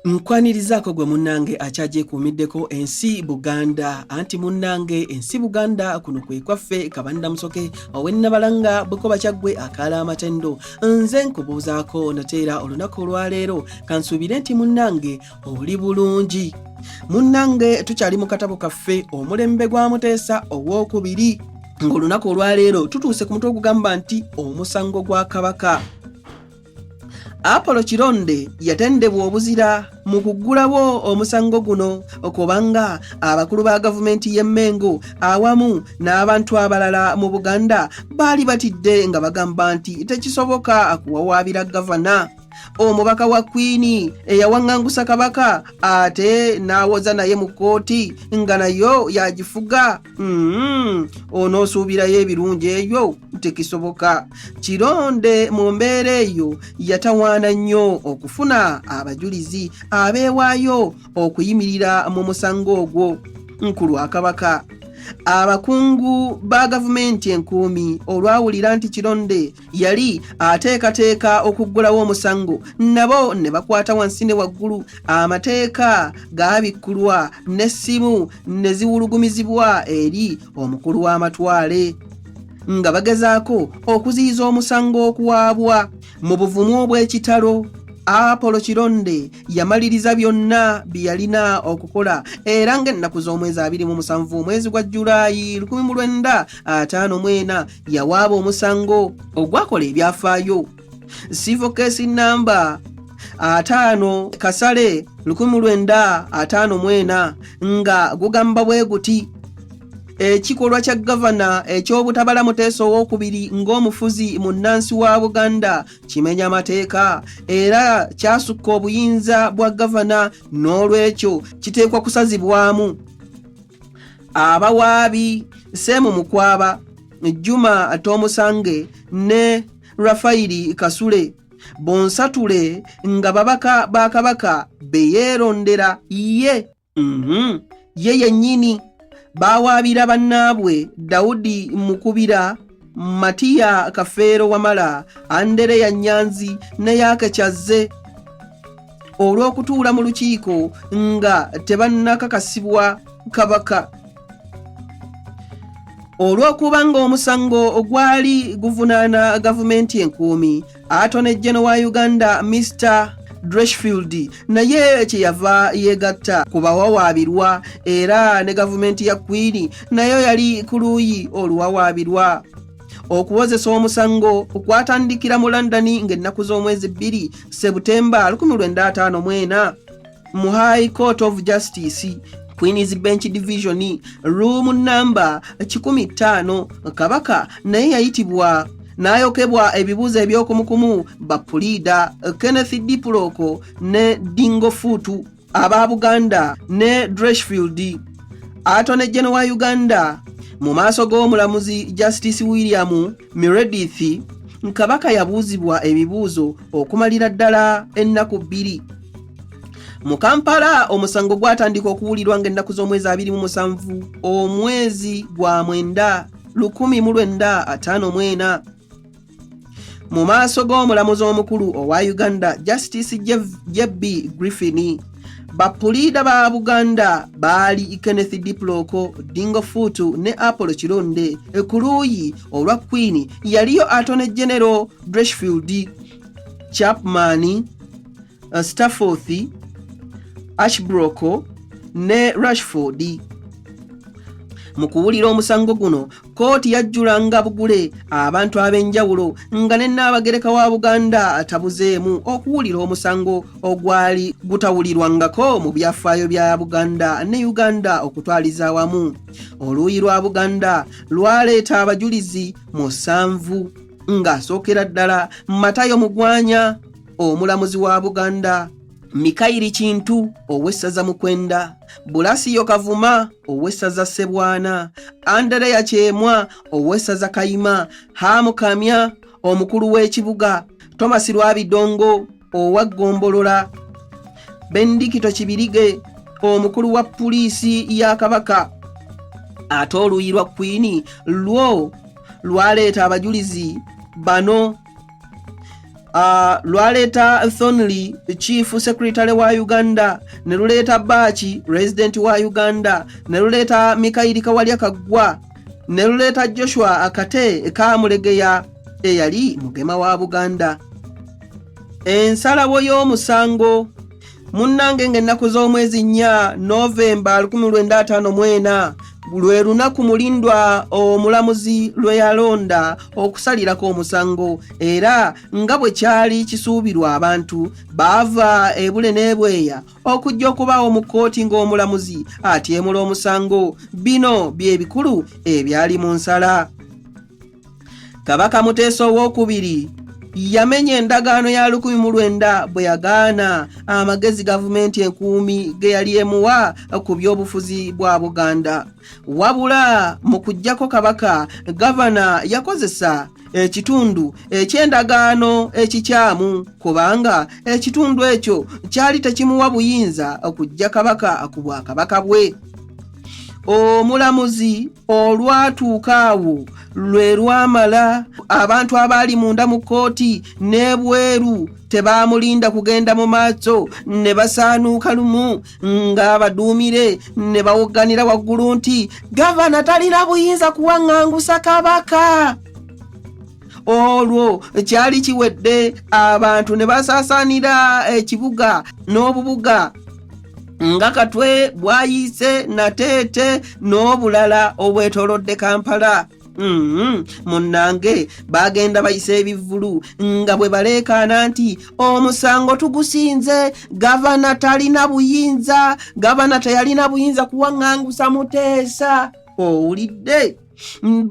nkwanirizaako gwe munnange akyagyekuumiddeko ensi buganda anti munnange ensi buganda kuno kwe kwaffe kabanira musoke owennabalanga bukoba kyaggwe akaala amatendo nze nkubuuzaako nateera olunaku olwaleero kansuubire nti munnange oli bulungi munnange tukyali mu katabo kaffe omulembe gwa muteesa ow'okubiri ng'olunaku olwaleero tutuuse ku mutwe ogugamba nti omusango gwa kabaka apolo kironde yatendebwa obuzira mu kuggulawo omusango guno okubanga abakulu ba gavumenti y'e mengo awamu n'abantu abalala mu buganda baali batidde nga bagamba nti tekisoboka akuwawaabira gavana omubaka wa kwini eyawaŋŋangusa kabaka ate n'awoza naye mu kkooti nga nayo yagifuga Mm-hmm. onoosuubirayo ebirungi eyo tekisoboka kironde mu mbeera eyo yatawaana nnyo okufuna abajulizi abeewaayo okuyimirira mu musango ogwo nku lwa kabaka abakungu ba gavumenti enkuumi olwawulira nti kironde yali ateekateeka okuggulawo omusango nabo ne bakwata wansi ne waggulu amateeka gaabikkulwa n'essimu ne ziwulugumizibwa eri omukulu w'amatwale nga bagezaako okuziyiza omusango okuwaabwa mu buvumu obw'ekitalo apolo kironde yamaliriza byonna bye yalina okukola era ng'ennaku z'omwezi abiri mu musanvu omwezi gwa julayi 1954 yawaaba omusango ogwakola ebyafaayo civil case number ataano kasale lukumi lwenda ataano mwena nga gugamba bwe guti ekikolwa kya gavana eky'obutabala muteesa owokubiri ng'omufuzi mu nnansi wa buganda kimenya amateeka era kyasukka obuyinza bwa gavana n'olwekyo kiteekwa kusazibwamu abawaabi seemu mukwaba juma atomusange ne rafayiri kasule bonsatule nga babaka ba kabaka beyeerondera ye mhm, ye yennyini bawaabira bannaabwe dawudi mukubira Matiya Kafeero Wamala, Andereya Nyanzi ne Yaaka Kyazze olw'okutuula mu lukiiko nga tebannakakasibwa Kabaka olw'okuba ng'omusango ogwali guvunaana gavumenti enkuumi Atone General wa Uganda Mr Dreshfield naye kyeyava yeegatta ku bawawaabirwa era ne gavumenti ya Kwini nayo yali ku luuyi oluwawaabirwa. Okuwozesa omusango kwatandikira mu London ng'ennaku z'omwezi bbiri Ssebutemba 1954. mu high court of justice queens bench division room number 15 kabaka naye yayitibwa n'ayokebwa ebibuuzo ebyokumukumu bapuliida kenneth dipuloko ne dingo fuutu aba buganda ne dreshfield atone geno wa uganda mu maaso g'omulamuzi justice william Meredith Kabaka yabuuzibwa ebibuuzo okumalira ddala ennaku bbiri. Mu Kampala omusango gwatandika okuwulirwa ng'ennaku z'omwezi abiri mu musanvu omwezi gwa mwenda lukumi mu lwenda ataano mwena. Mu maaso g'omulamuzi omukulu owa Uganda Justice JB Griffin. bapuliida ba buganda baali kenneth diploko dingo fuutu ne apollo kironde ku luuyi olwa queen yaliyo atone genero dreshfield chapman uh, stafforth ashbroko ne rashford mu kuwulira omusango guno kkooti yajjulanga bugule abantu ab'enjawulo nga ne nnaabagereka wa buganda atabuzeemu okuwulira omusango ogwali gutawulirwangako mu byafaayo bya buganda ne uganda okutwaliza awamu oluuyi lwa buganda lwaleeta abajulizi musanvu ng'asookera ddala matayo mugwanya omulamuzi wa buganda Mikayiri Kintu ow'essaza Mukwenda, Bulasiyo Kavuma ow'essaza Sebwana, Andereya Kyemwa ow'essaza Kayima, Hamu Kamya omukulu w'ekibuga, Thomas Lwabidongo owa Ggombolola, Bendikito Kibirige omukulu wa puliisi ya Kabaka ate oluuyi lwa Kwini lwo lwaleeta abajulizi bano Ah, lwaleeta Thornley chief secretary wa Uganda ne luleeta Baachi resident wa Uganda ne luleeta Mikayiri Kawalya Kaggwa ne luleeta Joshua Akate Kaamulegeya eyali mugema wa Buganda. Ensalawo y'omusango munnange ng'ennaku z'omwezi nnya novemba 1954 lwe lunaku mulindwa omulamuzi lwe yalonda okusalirako omusango era nga bwe kyali kisuubirwa abantu baava ebule n'ebweya okujja okubaawo mu kkooti ng'omulamuzi atyemula omusango bino bye bikulu ebyali mu nsala kabaka muteesa owokubiri yamenya endagaano ya lukumi mu lwenda bwe yagaana amagezi gavumenti enkuumi ge yali emuwa ku by'obufuzi bwa buganda wabula mu kujjako kabaka gavana yakozesa ekitundu eky'endagaano ekikyamu kubanga ekitundu ekyo kyali tekimuwa buyinza okujja kabaka ku bwakabaka bwe omulamuzi olwatuuka awo lwe lwamala abantu abaali munda mu kkooti n'ebweru tebaamulinda kugenda mu maaso ne basaanuuka lumu ng'abaduumire ne bawogganira waggulu nti gavana talina buyinza kuwaŋŋangusa kabaka olwo kyali kiwedde abantu ne basaasaanira ekibuga n'obubuga nga katwe bwayiise nateete n'obulala obwetolodde kampala Mm-hmm. munnange bagenda bayisa ebivvulu nga bwe baleekaana nti omusango tugusinze gavana talina buyinza gavana teyalina buyinza kuwaŋŋangusa muteesa owulidde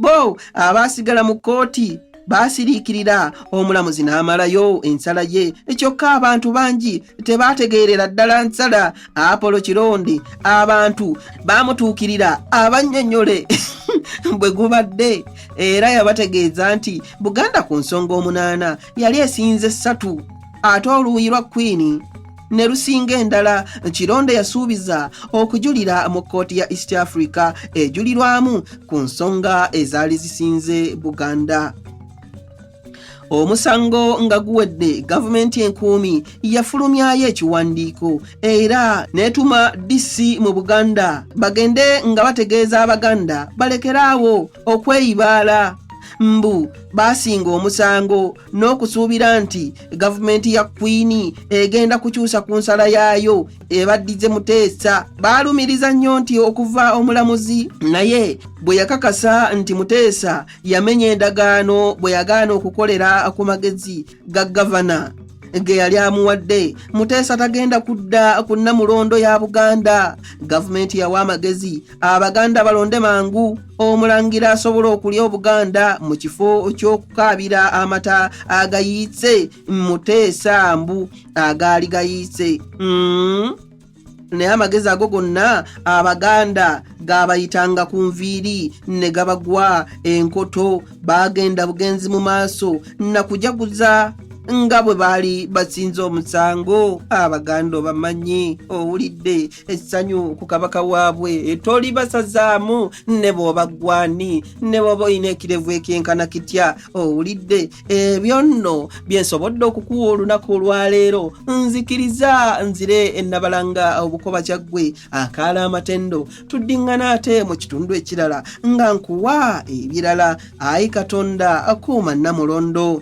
bo abaasigala mu kkooti baasiriikirira omulamuzi n'amalayo ensala ye ekyokka abantu bangi tebaategeerera ddala nsala apolo kirondi abantu baamutuukirira abannyonnyole bwe gubadde era yabategeeza nti buganda ku nsonga omunaana yali esinze ssatu ate oluuyi lwa kwini ne lusinga endala kironde yasuubiza okujulira mu kkooti ya east africa ejulirwamu ku nsonga ezaali zisinze buganda omusango nga guwedde gavumenti enkuumi yafulumyayo ekiwandiiko era n'etuma dc mu buganda bagende nga bategeeza abaganda balekeraawo okweyibaala mbu baasinga omusango n'okusuubira nti gavumenti ya kwini egenda kukyusa ku nsala yaayo ebaddize muteesa baalumiriza nnyo nti okuva omulamuzi naye bwe yakakasa nti muteesa yamenya endagaano bwe yagaana okukolera ku magezi ga gavana ge yali amuwadde muteesa tagenda kudda ku nnamulondo ya buganda gavumenti yawa amagezi abaganda balonde mangu omulangira asobola okulya obuganda mu kifo ky'okukaabira amata agayiitse muteesa mbu agaali gayiitse mm. naye amagezi ago gonna abaganda gaabayitanga ku nviiri ne gabagwa enkoto baagenda bugenzi mu maaso nakujaguza nga bwe baali basinza omusango abaganda obamanyi owulidde essanyu ku kabaka waabwe tolibasazaamu ne bw'oba ggwani ne bw'oba olina ekirevu ekyenkana kitya owulidde ebyo nno bye nsobodde okukuwa olunaku olwaleero nzikiriza nzire ennabalanga obukoba kyaggwe akaala amatendo tuddiŋŋana ate mu kitundu ekirala nga nkuwa ebirala ayi katonda akuuma nnamulondo